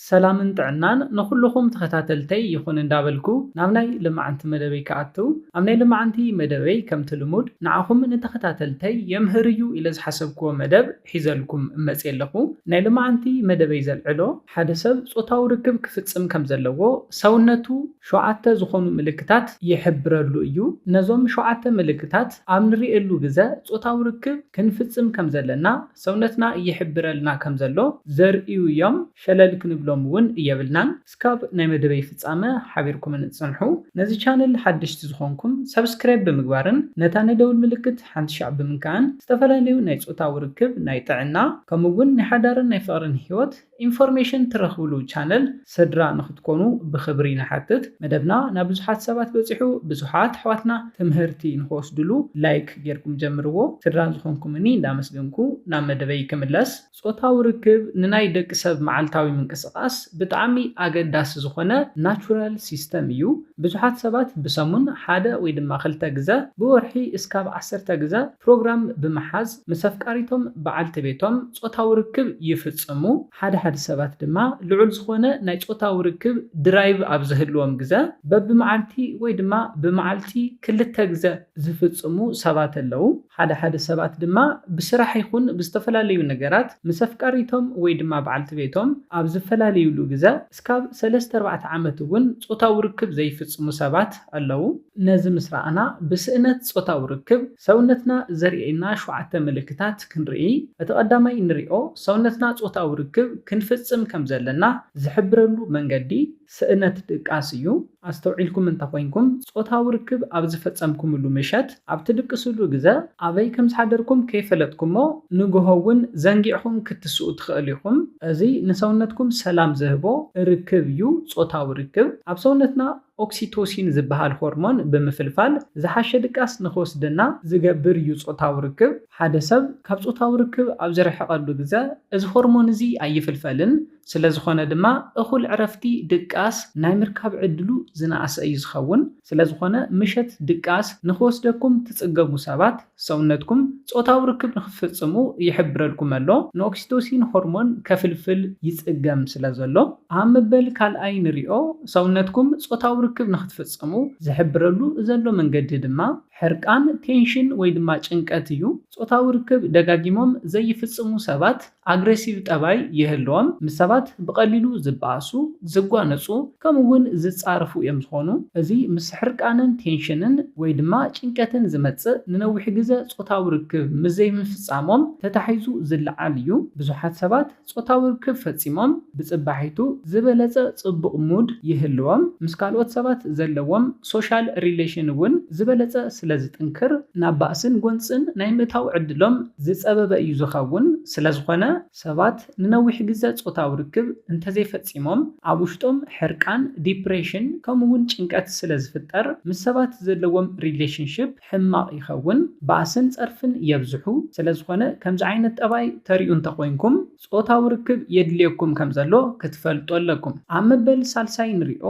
ሰላምን ጥዕናን ንኹሉኹም ተኸታተልተይ ይኹን እንዳበልኩ ናብ ናይ ልማዓንቲ መደበይ ክኣቱ ኣብ ናይ ልማዓንቲ መደበይ ከምቲ ልሙድ ንዓኹም ንተኸታተልተይ የምህር እዩ ኢለ ዝሓሰብክዎ መደብ ሒዘልኩም መፅየ ኣለኹ ናይ ልማዓንቲ መደበይ ዘልዕሎ ሓደ ሰብ ፆታዊ ርክብ ክፍፅም ከም ዘለዎ ሰውነቱ ሸውዓተ ዝኾኑ ምልክታት ይሕብረሉ እዩ ነዞም ሸውዓተ ምልክታት ኣብ ንሪኤሉ ግዘ ፆታዊ ርክብ ክንፍፅም ከም ዘለና ሰውነትና ይሕብረልና ከም ዘሎ ዘርእዩ ዮም ሸለል ክንብሎም ውን የብልናን እስካብ ናይ መደበይ ፍጻመ ሓቢርኩምኒ ጽንሑ ነዚ ቻነል ሓደሽቲ ዝኮንኩም ሳብስክራይብ ብምግባርን ነታ ናይ ደውል ምልክት ሓንቲ ሻዕ ብምንካእን ዝተፈላለዩ ናይ ጾታዊ ርክብ ናይ ጥዕና ከምኡ ውን ናይ ሓዳርን ናይ ፍቅርን ሂወት ኢንፎርሜሽን ትረኽብሉ ቻነል ሰድራ ንክትኮኑ ብክብሪ ንሓትት መደብና ናብ ብዙሓት ሰባት በጺሑ ብዙሓት ኣሕዋትና ትምህርቲ ንክወስድሉ ላይክ ጌርኩም ጀምርዎ ስድራ ዝኾንኩምኒ እንዳመስገንኩ ናብ መደበይ ክምለስ ጾታዊ ርክብ ንናይ ደቂ ሰብ መዓልታዊ ምንቅስቃስ ብጣዕሚ ኣገዳሲ ዝኾነ ናቹራል ሲስተም እዩ ብዙሓት ሰባት ብሰሙን ሓደ ወይ ድማ ክልተ ግዘ ብወርሒ እስካብ ዓሰርተ ግዘ ፕሮግራም ብምሓዝ ምስ ኣፍቃሪቶም፣ በዓልቲ ቤቶም፣ ጾታዊ ርክብ ይፍጽሙ። ሓደ ሓደ ሰባት ድማ ልዑል ዝኾነ ናይ ጾታዊ ርክብ ድራይቭ ኣብ ዝህልዎም ግዘ በብመዓልቲ ወይ ድማ ብመዓልቲ ክልተ ግዘ ዝፍጽሙ ሰባት ኣለው። ሓደ ሓደ ሰባት ድማ ብስራሕ ይኹን ብዝተፈላለዩ ነገራት ምስ ኣፍቃሪቶም ወይ ድማ በዓልቲ ቤቶም ኣብ ዝፈላልዩሉ ግዘ እስካብ ሰለስተ ኣርባዕተ ዓመት እውን ጾታዊ ርክብ ዘይፍጽሙ ሰባት ኣለው። ነዚ ምስ ረኣና፣ ብስእነት ጾታዊ ርክብ ሰውነትና ዘርእየና ሸውዓተ ምልክታት ክንርኢ። እቲ ቀዳማይ እንሪኦ፣ ሰውነትና ጾታዊ ርክብ ክንፍጽም ከም ዘለና ዝሕብረሉ መንገዲ፣ ስእነት ድቃስ እዩ። ኣስተውዒልኩም እንተ ኾይንኩም፣ ጾታዊ ርክብ ኣብ ዝፈጸምኩምሉ ምሸት፣ ኣብ ትድቅስሉ ግዘ፣ ኣበይ ከም ዝሓደርኩም ከይፈለጥኩሞ፣ ንግሆ እውን ዘንጊዕኹም ክትስኡ ትኸእሉ ኢኹም። እዚ ንሰውነትኩም ሰላም ዝህቦ ርክብ እዩ፣ ጾታዊ ርክብ ኣብ ሰውነትና፣ ኦክሲቶሲን ዝበሃል ሆርሞን ብምፍልፋል ዝሓሸ ድቃስ ንኽወስደና ዝገብር እዩ ጾታዊ ርክብ። ሓደ ሰብ ካብ ጾታዊ ርክብ ኣብ ዝርሕቐሉ ግዘ እዚ ሆርሞን እዚ ኣይፍልፈልን፣ ስለዝኾነ ድማ እኹል ዕረፍቲ፣ ድቃስ፣ ናይ ምርካብ ዕድሉ ዝነኣሰ እዩ ዝኸውን። ስለዝኾነ ምሸት ድቃስ ንኽወስደኩም ትጽገቡ ሰባት፣ ሰውነትኩም ጾታዊ ርክብ ንኽትፍጽሙ ይሕብረልኩም ኣሎ፣ ንኦክሲቶሲን ሆርሞን ከፍልፍል ይጽገም ስለዘሎ። ኣብ መበል ካልኣይ ንሪኦ፣ ሰውነትኩም ጾታዊ ርክብ ንኽትፍጽሙ ዝሕብረሉ ዘሎ መንገዲ ድማ ሕርቃን፣ ቴንሽን፣ ወይ ድማ ጭንቀት እዩ። ጾታዊ ርክብ ደጋጊሞም ዘይፍጽሙ ሰባት፣ ኣግሬሲቭ ጠባይ ይህልዎም፣ ምስ ሰባት ብቐሊሉ ዝበኣሱ፣ ዝጓነጹ፣ ከምኡ ውን ዝጻረፉ እዮም ዝኾኑ። እዚ ምስ ሕርቃንን ቴንሽንን ወይ ድማ ጭንቀትን ዝመጽእ ንነዊሕ ግዘ ጾታዊ ርክብ ምስ ዘይምፍጻሞም ተታሒዙ ዝለዓል እዩ። ብዙሓት ሰባት ጾታዊ ርክብ ፈጺሞም ብጽባሒቱ ዝበለጸ ጽቡቕ ሙድ ይህልዎም፣ ምስ ካልኦት ሰባት ዘለዎም ሶሻል ሪሌሽን ውን ዝበለጸ ስለዝጥንክር ናብ ባእስን ጎንጽን ናይ ምእታው ዕድሎም ዝጸበበ እዩ ዝኸውን፣ ስለዝኾነ ሰባት ንነዊሕ ግዘ ጾታዊ ርክብ እንተዘይፈጺሞም ኣብ ውሽጦም ሕርቃን፣ ዲፕሬሽን፣ ከምኡ ውን ጭንቀት ስለዝፍጠር ምስ ሰባት ዘለዎም ሪሌሽንሺፕ ሕማቕ ይኸውን፣ ባእስን ጸርፍን የብዝሑ፣ ስለዝኾነ ከምዚ ዓይነት ጠባይ ተሪኡ እንተኾይንኩም፣ ጾታዊ ርክብ የድልየኩም ከም ዘሎ ክትፈልጡ ኣለኩም። ኣብ መበል ሳልሳይ ንሪኦ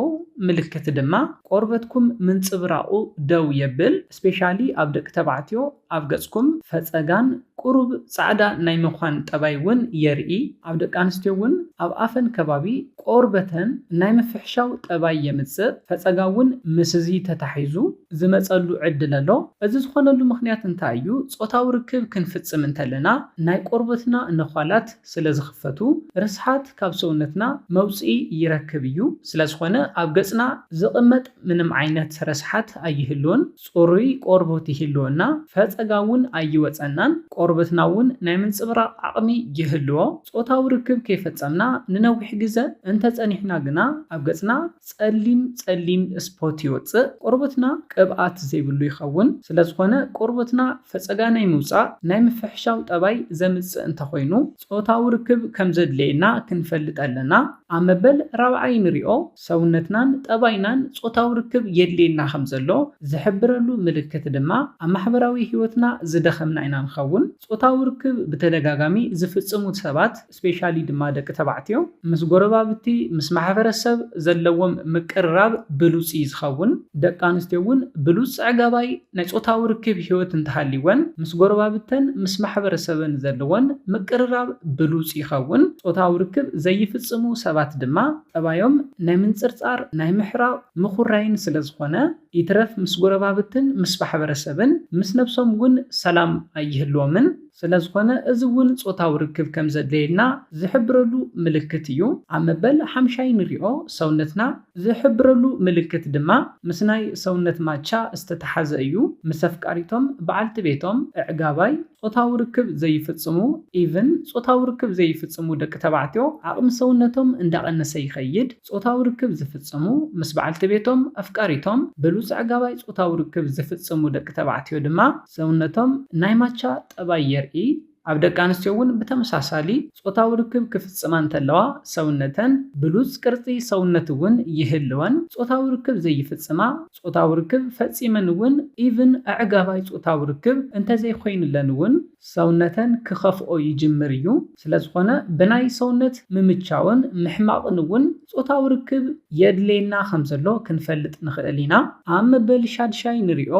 ምልክት ድማ ቆርበትኩም ምንጽብራቑ ደው የብል፣ ስፔሻሊ ኣብ ደቂ ተባዕትዮ ኣብ ገጽኩም ፈጸጋን ቁሩብ ጻዕዳ ናይ ምዃን ጠባይ ውን የርኢ፣ ኣብ ደቂ ኣንስትዮ ውን ኣብ ኣፈን ከባቢ ቆርበተን ናይ ምፍሕሻው ጠባይ የምጽእ፣ ፈጸጋ ውን ምስዚ ተታሒዙ። ዝመጸሉ ዕድል ኣሎ። እዚ ዝኾነሉ ምኽንያት እንታይ እዩ? ጾታዊ ርክብ ክንፍጽም እንተለና ናይ ቆርበትና ነዃላት ስለ ዝኽፈቱ ርስሓት ካብ ሰውነትና መውጽኢ ይረክብ እዩ። ስለ ዝኾነ ኣብ ገጽና ዝቕመጥ ምንም ዓይነት ረስሓት ኣይህሉን። ጽሩይ ቆርቡት ይህልወና፣ ፈጸጋ እውን ኣይወጸናን፣ ቆርበትና እውን ናይ ምንጽብራቕ ዓቕሚ ይህልዎ። ጾታዊ ርክብ ከይፈጸምና ንነዊሕ ግዘ እንተጸኒሕና ግና ኣብ ገጽና። ጸሊም ጸሊም ስፖት ይወጽእ ቆርበትና ቅብኣት ዘይብሉ ይኸውን ስለዝኾነ ቆርበትና ፈጸጋ ናይ ምውጻእ ናይ ምፍሕሻው ጠባይ ዘምጽእ እንተኾይኑ ጾታዊ ርክብ ከምዘድልየና ክንፈልጥ ኣለና ኣብ መበል ራብዓይ ንሪኦ ሰውነትናን ጠባይናን ጾታዊ ርክብ የድልየና ከምዘሎ ዝሕብረሉ ምልክት ድማ ኣብ ማሕበራዊ ሂወትና ዝደኸምና ኢና ንኸውን ጾታዊ ርክብ ብተደጋጋሚ ዝፍጽሙ ሰባት ስፔሻሊ ድማ ደቂ ተባዕትዮ ምስ ጎረባብቲ ምስ ማሕበረ ሰብ ዘለዎም ምቅርራብ ብሉጽ እዩ ዝኸውን። ደቂ ኣንስትዮ እውን ብሉጽ ጸዕጋባይ ናይ ጾታዊ ርክብ ህይወት እንተሃልይወን ምስ ጎረባብተን ምስ ማሕበረ ሰበን ዘለወን ምቅርራብ ብሉጽ ይኸውን። ጾታዊ ርክብ ዘይፍጽሙ ሰባት ድማ ጠባዮም ናይ ምንጽርጻር ናይ ምሕራቕ ምኹራይን ስለ ዝኾነ ይትረፍ ምስ ጎረባብትን ምስ ማሕበረ ሰብን ምስ ነብሶም እውን ሰላም ኣይህልዎምን። ስለዝኾነ እዚ እውን ጾታዊ ርክብ ከም ዘድለየልና ዝሕብረሉ ምልክት እዩ። ኣብ መበል ሓምሻይ ንሪኦ ሰውነትና ዝሕብረሉ ምልክት ድማ ምስ ናይ ሰውነት ማቻ ዝተተሓዘ እዩ። ምስ ኣፍቃሪቶም፣ በዓልቲ ቤቶም፣ እዕጋባይ፣ ጾታዊ ርክብ ዘይፍጽሙ፣ even፣ ጾታዊ ርክብ ዘይፍጽሙ ደቂ ተባዕትዮ ዓቕሚ ሰውነቶም እንዳቐነሰ ይኸይድ። ጾታዊ ርክብ ዝፍጽሙ ምስ በዓልቲ ቤቶም፣ ኣፍቃሪቶም፣ ብሉጽ ኣዕጋባይ ጾታዊ ርክብ ዝፍጽሙ ደቂ ተባዕትዮ ድማ ሰውነቶም ናይ ማቻ ጠባይ የርኢ። ኣብ ደቂ ኣንስትዮ እውን ብተመሳሳሊ ጾታዊ ርክብ ክፍጽማ እንተለዋ ሰውነተን ብሉጽ ቅርጺ ሰውነት እውን ይህልወን። ጾታዊ ርክብ ዘይፍጽማ ጾታዊ ርክብ ፈጺመን እውን ኢቭን ኣዕጋባይ ጾታዊ ርክብ እንተዘይኮይንለን እውን፣ ሰውነተን ክኸፍኦ ይጅምር እዩ። ስለዝኾነ ብናይ ሰውነት ምምቻውን ምሕማቕን እውን ጾታዊ ርክብ የድልየና ከምዘሎ ክንፈልጥ ንኽእል ኢና። ኣብ መበል ሻድሻይ ንሪኦ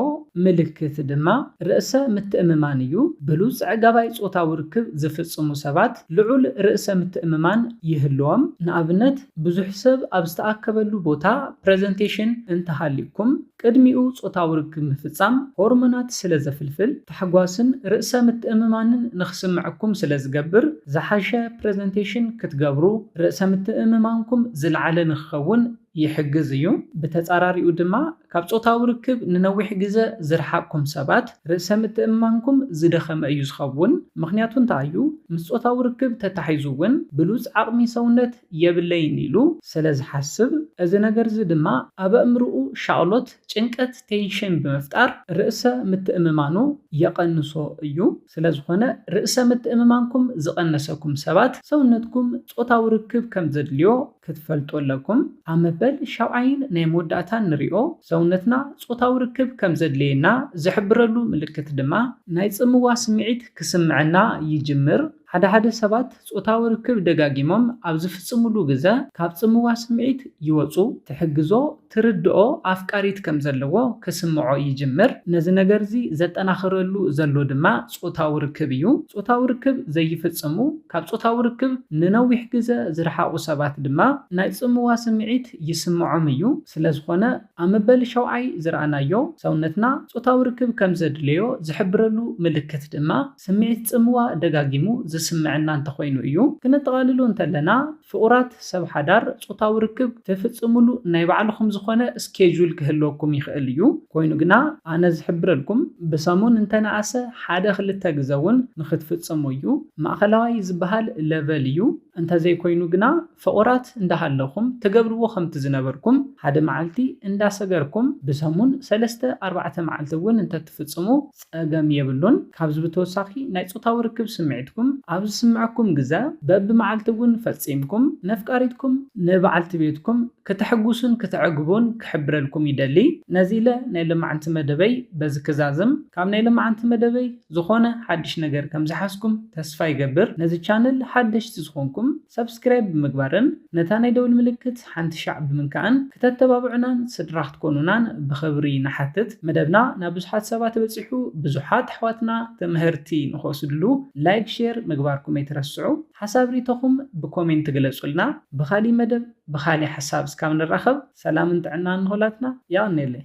ምልክት ድማ ርእሰ ምትእምማን እዩ። ብሉጽ ኣዕጋባይ ጾታዊ ርክብ ዝፍጽሙ ሰባት ልዑል ርእሰ ምትእምማን ይህልዎም። ንኣብነት ብዙሕ ሰብ ኣብ ዝተኣከበሉ ቦታ ፕረዘንቴሽን እንተሃልዩኩም፣ ቅድሚኡ ጾታዊ ርክብ ምፍጻም ሆርሞናት ስለ ዘፍልፍል፣ ታሕጓስን ርእሰ ምትእምማንን ንኽስምዐኩም ስለ ዝገብር፣ ዝሓሸ ፕረዘንቴሽን ክትገብሩ፣ ርእሰ ምትእምማንኩም ዝለዓለ ንኽኸውን ይሕግዝ እዩ። ብተጻራሪኡ ድማ፣ ካብ ጾታዊ ርክብ ንነዊሕ ግዘ ዝረሓቕኩም ሰባት፣ ርእሰ ምትእምማንኩም ዝደኸመ እዩ ዝኸውን። ምኽንያቱ እንታይ እዩ? ምስ ጾታዊ ርክብ ተታሒዙ እውን ብሉጽ ዓቕሚ ሰውነት፣ የብለይን ኢሉ ስለ ዝሓስብ፣ እዚ ነገር'ዚ ድማ ኣብ ኣእምሮኡ ሻቕሎት፣ ጭንቀት፣ ቴንሽን፣ ብምፍጣር ርእሰ ምትእምማኑ የቐንሶ እዩ። ስለ ዝኾነ ርእሰ ምትእምማንኩም ዝቐነሰኩም ሰባት ሰውነትኩም ጾታዊ ርክብ ከም ዘድልዮ ክትፈልጡ ኣለኩም። ኣብ መበል ሻብዓይን ናይ መወዳእታን ንሪኦ ሰውነትና ጾታዊ ርክብ ከም ዘድልየና ዝሕብረሉ ምልክት ድማ ናይ ጽምዋ ስምዒት ክስምዐና ይጅምር። ሓደ ሓደ ሰባት ጾታዊ ርክብ ደጋጊሞም ኣብ ዝፍጽሙሉ ግዘ ካብ ጽምዋ ስምዒት ይወጹ፣ ትሕግዞ፣ ትርድኦ ኣፍቃሪት ከም ዘለዎ ክስምዖ ይጅምር። ነዚ ነገር'ዚ ዘጠናኽረሉ ዘሎ ድማ ጾታዊ ርክብ እዩ። ጾታዊ ርክብ ዘይፍጽሙ፣ ካብ ጾታዊ ርክብ ንነዊሕ ግዘ ዝረሓቑ ሰባት ድማ ናይ ጽምዋ ስምዒት ይስምዖም እዩ። ስለዝኾነ ኣብ መበል ሻውዓይ ዝረኣናዮ፣ ሰውነትና ጾታዊ ርክብ ከም ዘድልዮ ዝሕብረሉ ምልክት ድማ፣ ስምዒት ጽምዋ ደጋጊሙ ዝስምዐና እንተኾይኑ እዩ። ክነጠቓልሎ እንተለና፣ ፍቑራት ሰብ ሓዳር ጾታዊ ርክብ ትፍጽምሉ ናይ ባዕልኹም ዝኾነ ስኬጁል ክህልወኩም ይኽእል እዩ። ኮይኑ ግና ኣነ ዝሕብረልኩም፣ ብሰሙን እንተነኣሰ ሓደ ክልተ ግዘ እውን ንክትፍጽሙ እዩ። ማእኸላዋይ ዝበሃል ለቨል እዩ። እንተዘይኮይኑ ግና ፍቑራት እንዳ ሃለኹም ትገብርዎ ከምቲ ዝነበርኩም ሓደ መዓልቲ እንዳ ሰገርኩም ብሰሙን ሰለስተ ኣርባዕተ መዓልቲ እውን እንተ ትፍጽሙ ጸገም የብሉን። ካብዚ ብተወሳኺ ናይ ጾታዊ ርክብ ስምዒትኩም ኣብ ዝስምዐኩም ግዘ በቢ መዓልቲ እውን ፈጺምኩም ነፍቃሪትኩም፣ ንበዓልቲ ቤትኩም፣ ክተሕጉሱን ክተዕግቡን ክሕብረልኩም ይደሊ። ነዚ ኢለ ናይ ሎማዕንቲ መደበይ በዚ ክዛዝም። ካብ ናይ ሎማዕንቲ መደበይ ዝኾነ ሓድሽ ነገር ከም ዝሓዝኩም ተስፋ ይገብር። ነዚ ቻነል ሓደሽቲ ዝኾንኩም። ሳብስክራይብ ብምግባርን ነታ ናይ ደውል ምልክት ሓንቲ ሻዕ ብምንካእን ክተተባብዑናን ስድራ ክትኮኑናን ብኽብሪ ንሓትት መደብና ናብ ብዙሓት ሰባት በጺሑ ብዙሓት ኣሕዋትና ትምህርቲ ንኽወስድሉ ላይክ ሼር ምግባርኩም ኣይትረስዑ ሓሳብ ሪኢቶኹም ብኮሜንት ግለጹልና ብኻሊእ መደብ ብኻሊእ ሓሳብ እስካብ ንራኸብ ሰላምን ጥዕናን ንኹላትና የቐኔለይ።